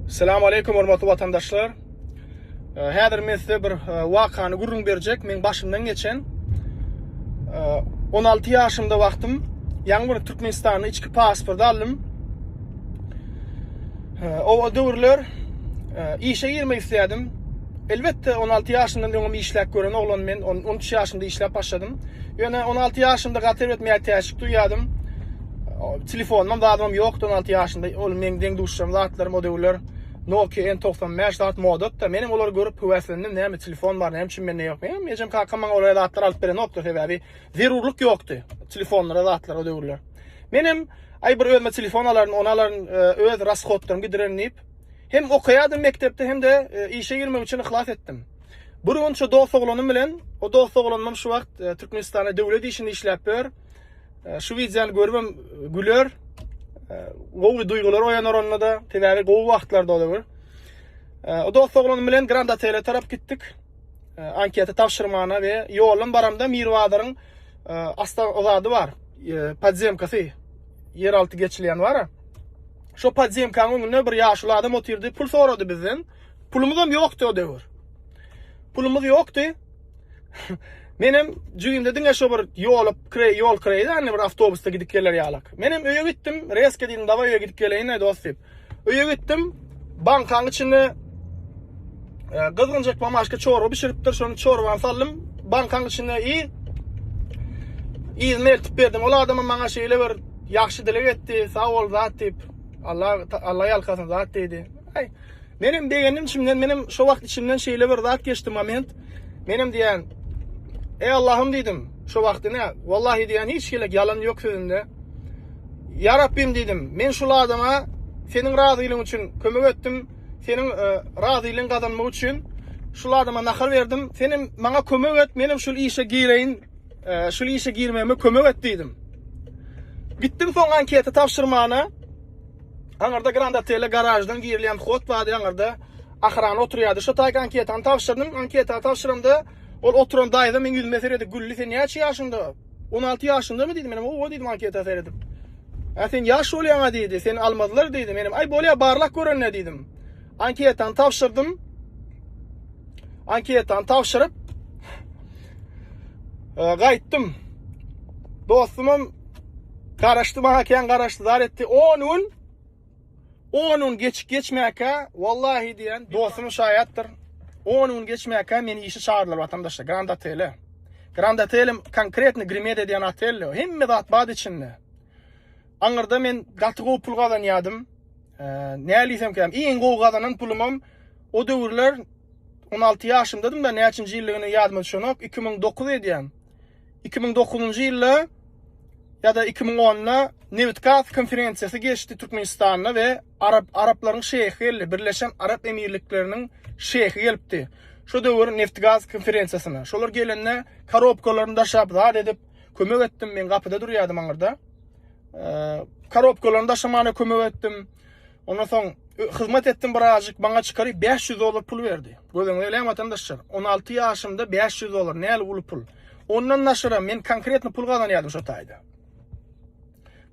Salam aleyküm hormatly vatandaşlar. Häzir men size bir wakany gürrüň berjek. Men başymdan geçen 16 ýaşymda wagtym ýaňy bir Türkmenistanyň içki pasporty aldym. O döwürler işe girmek isledim. Elbetde 16 ýaşymdan öňüm işläp gören oglan men 13 ýaşymda işläp başladym. Ýöne 16 ýaşymda gaty etmeýär täşik duýýadym. Telefonum zadym ýokdy 16 ýaşynda. Ol meň deň duşjam zatlarym o döwürler Nokia N95 zat modatda. Menem olary görüp höweslendim. Näme telefon bar, näme üçin mende ýok. Menem ejem kakam maňa olara zatlar alyp berenokdy sebäbi zerurlyk ýokdy telefonlara zatlar o döwürler. Menem aý bir özüme telefon alaryn, ony alaryn, e, öz rashodlarymy gidirerin diýip hem okaýardym mekdepde hem de e, işe girmek üçin yhlas etdim. Bir gün şu dost oglanym bilen, o dost oglanym şu wagt e, Türkmenistanda döwlet işinde işläp ýör. Şu wideony görübem güler. Gowy duýgular oýanar onda-da. Sebäbi gowy wagtlarda ola bir. O dost oglan bilen Grand Hotel-e tarap gitdik. Anketa tabşyrmana we ýolum baramda Mirbazaryň asla ozady bar. Podzemkasy ýeralty geçilýän bar. Şo podzemkanyň öňünde bir ýaşuly adam otyrdy, pul sorady bizden. Pulumyzam ýokdy o döwür. Pulumyz ýokdy. Menem jügimde diňe şu bir ýolup, kre, ýol kreýdi, anne bir awtobusda gidip geler ýalak. Menem öýe gitdim, reske diýdim, dawa öýe gidip geleýin, dost diýip. Öýe gitdim, bankaň içinde e, gyzgynjak mamaşka çorba bişiripdir, şony çorbany sallym, bankaň içinde i Ýygyny eltip berdim. Ol adama maňa şeýle bir ýagşy dileg etdi. Sag bol zat diýip. Allah Allah ýalkasyn zat diýdi. Aý, Menem begendim içimden, menem şo wagt içimden şeýle bir zat geçdi moment. Menem diýen, Ey Allahym diýdim, şo wagt ine, wallahi diýen hiç gelek ýalan ýok sözünde. Ya Rabbim diýdim, men şul adama seniň razylygyň üçin kömek etdim, seniň e, razylygyň gazanmak üçin şul adama nahar berdim. Senem maňa kömek et, menem şul işe gireýin, e, şul işe girmegime kömek et diýdim. Gitdim soň anketi tabşyrmana. Aňyrda Grand Hotel-e garaždan girilýän hod bardy, aňyrda Ahrana oturýardy. Şo taýk anketany tabşyrdym. Anketany tabşyramda ol oturan daýza meň ýüzüme seredip güldi. Sen näçe ýaşyňda? On alty ýaşyňdamy diýdi. Menem owa diýdim anketa seredip. Ä sen ýaş bolýaň-a diýdi. Seni almazlar diýdi. Menem aý bolýa barlak görende diýdim. Anketany tabşyrdym. Anketany tabşyryp e, gaýtdym. Dostum hem garaşdy maňa kän garaşdy zar etdi. 10 gün 10 gün geçip geçmäkä wallahi diýen dostum şaýatdyr. 10 gün geçmäkä meni işe çağırdylar watandaşlar Grand Otele. Grand Otelim konkretny Grimeda diýen otel. Hemme zat bad içinde. Aňyrda men gaty gowy pul gazanýardym. Näliysem käm. Iň gowy gazanan pulumam o döwürler 16 ýaşymdadym-da, näçinji ýyldygyny ýadyma düşenok, 2009 edýän. 2009-njy ýylda ýa-da 2010-da Nebit-gaz konferensiýasy geçdi Türkmenistanda we arap araplaryň şeýhi geldi, Birleşen Arap Emirlikleriniň şeýhi gelipdi. Şo döwür Neft-gaz konferensiýasyna. Şolar gelende korobkalaryny daşap, zat edip, Kömek etdim. Men gapyda durýardym aňyrda. Korobkalaryny daşamaga kömek etdim. Ondan soň hyzmat etdim birazjyk. Maňa çykaryp 500 dollar pul berdi. Gözüňize elem watandaşlar. 16 ýaşymda 500 dollar näli uly pul. Ondan daşara men konkretno pul gazanýardym şu taýda.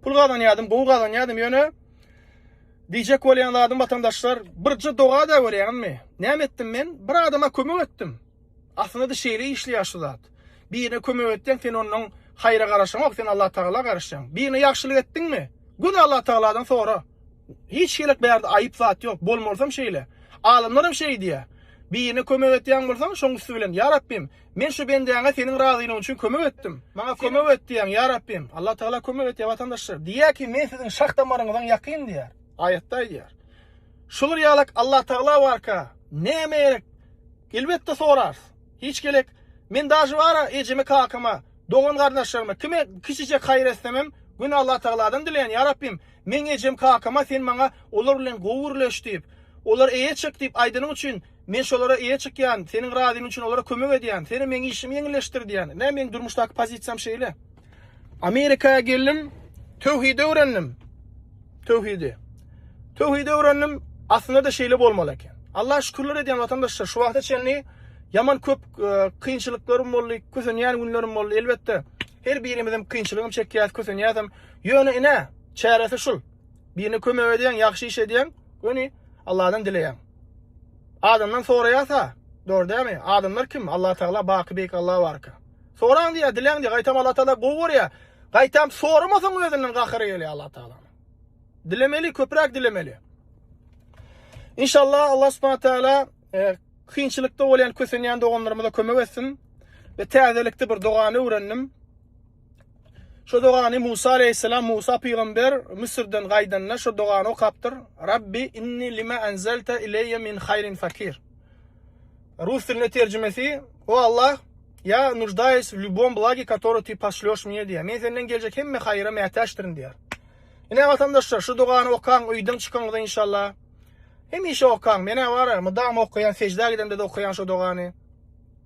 Pul gazanýardym, gowy gazanýardym, ýöne Diyecek bolýan zadym watandaşlar, birje doga da görýäňizmi? Näme etdim men? Bir adama kömek etdim. Aslynda-da şeýle işleýär şu zat. Birine kömek etseň, sen ondan haýra garaşaňok, sen Allatagala garaşýaň. Birine ýagşylyk etdiňmi, göni Allatagaladan sora. Hiç hili bärde aýyp zat ýok. Bolmalysam şeýle. Alymlaram şeý diýýär. Birine kömek edýän bolsaň, şoň üsti bilen, Ýa Rabbym, men şu bendäňe Seniň razylygyň üçin kömek etdim. Maňa kömek et diýäň, Ýa Rabbym. Allatagala kömek edýär, watandaşlar. Diýýär ki, men siziň şah-damaryňyzyň ýakyn diýýär. Aýatda aýdýar. Şular ýalak Allatagla barka näme gerek elbetde sorars hiç gelek men daži bara ejeme kakama dogan gardaşlaryma kime kiçijek haýyr etsemem göni Allatagladan dileýän ýa Rabbim meň ejem kakama sen maňa olar bilen gowy gürleş diýip olar eýe çyk diýip aýdanyň üçin Men şolara eýe çykýan, seniň razyň üçin olara kömek edýän, seni meň işimi ýeňilleşdir diýýän. Nä meň durmuşdaky pozisiýam şeýle. Amerika geldim, töwhidi öwrendim. Töwhidi. Töwhidi öwrendim, aslynda-da şeýle bolmaly eken. Allah şükürler edýän watandaşlar, şu wagta çenli ýaman köp e, kynçylyklarym boldy, kösenýän günlerim boldy. Elbetde, her birimizem kynçylygym çekýäs, kösenýäsem. Ýöne ine, çäresi şul. Birine kömek edýän, ýagşy iş edýän, göni Allahdan dileýän. Adamdan soraýasa, dogry dämi? Adamlar kim? Allatagala, Baky Beýik Alla barka. Soraň diýýär, diläň diýýär. Gaýtam Allatagala gowy görýär. Gaýtam soramasaň özünden gahary gelýär Allatagalanyň. Dilemeli, köpräk dilemeli. İnşallah Allah subhanahu teala e, kynçylykda bolýan kösenýän doganlarymyza kömek etsin. Ve täzelikde bir dogany öwrendim. Şu dogany Musa aleýhissalam, Musa pygamber, Müsürden gaýdanda şu dogany okapdyr, Rabbi inni lima enzelte ileýe min haýrin fakir. Rus dilinde terjimesi, O Allah, ýa nuždaýus w lýubom blagi katory ti poşlýoş mne diýýär. Men senden geljek hemme haýyra mätäçdirin diýýär. Ine watandaşlar, şu dogany okaň, öýden çykaňyzda inşallah. Hemişe okaň, menä bara, mydama okaýan, seždä gidemde-de okaýan şu dogany.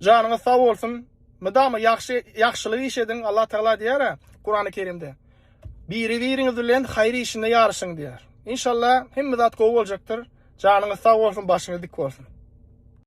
Janyňyz sag bolsun. Mydama ýagşy ýagşylyk iş ediň. Allah Tagala diýýär, Kurany Kerimde. Biri-biriňiz bilen haýyr işinde ýaryşyň diýýär. Inşallah hemme zat gowy boljakdyr. Janyňyz sag bolsun, başyňyz dik bolsun.